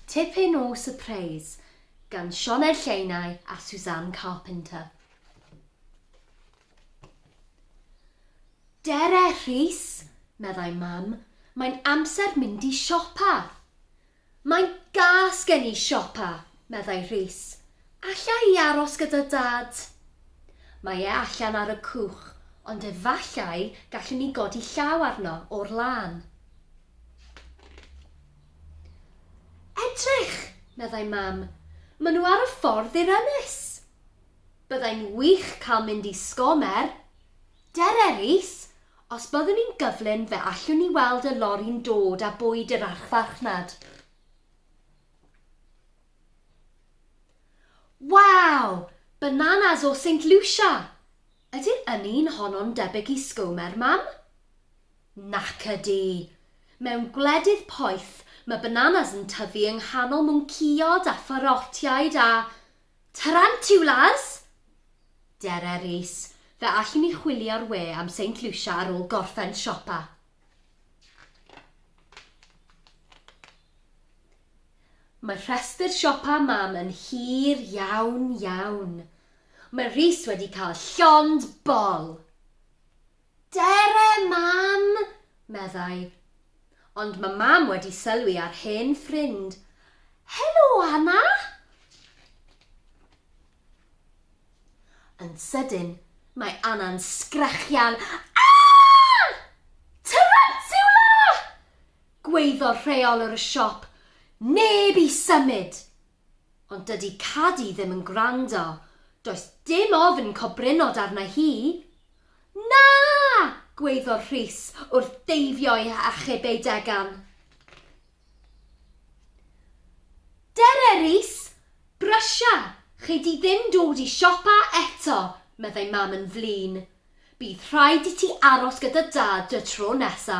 Tipyn o sypreis gan Sioned Lleinau a Suzanne Carpenter. Dere Rhys, meddai Mam, mae'n amser mynd i siopa. Mae'n gas gen i siopa, meddai Rhys. Alla i aros gyda Dad? Mae e allan ar y cwch, ond efallai gallwn ni godi llaw arno o'r lân. Edrych! meddai Mam. Maen nhw ar y ffordd i'r ynys! Byddai'n wych cael mynd i Sgomer! Dere, Rhys! Os byddwn i'n gyflym fe allwn ni weld y lori'n dod â bwyd i'r archfarchnad. Waw! Bananas o Saint Lucia! Ydy'r ynni yn honno'n debyg i Sgomer, Mam? Nac ydy. Mewn gwledydd poeth ma bananas yn tyfu yng nghanol mwncïod a pharotiaid a tarantiwlas! Dere Rees, Fe allwn ni chwilio'r we am Saint Lucia ar ôl gorffen siopa. Mae rhestr siopa Mam yn hir iawn iawn. Mae Rees wedi cael llond bol! Dere, Mam! meddai. Ond mae Mam wedi sylwi ar hen ffrind. Helo, Anna! Yn sydyn, mae Anna'n sgrechian. Aah! Tarantula! Gweiddodd rheolwr y siop. Neb i symud! Ond dydi Cadi ddim yn gwrando, does dim ofn cobrynnod arna hi. Na! gwaeddodd Rhys wrth deifio'i hachub ei degan. Dere, Rhys! Brysia! Chei di ddim dod i siopa eto, meddai Mam yn flin. Bydd rhaid i ti aros gyda Dad y tro nesa.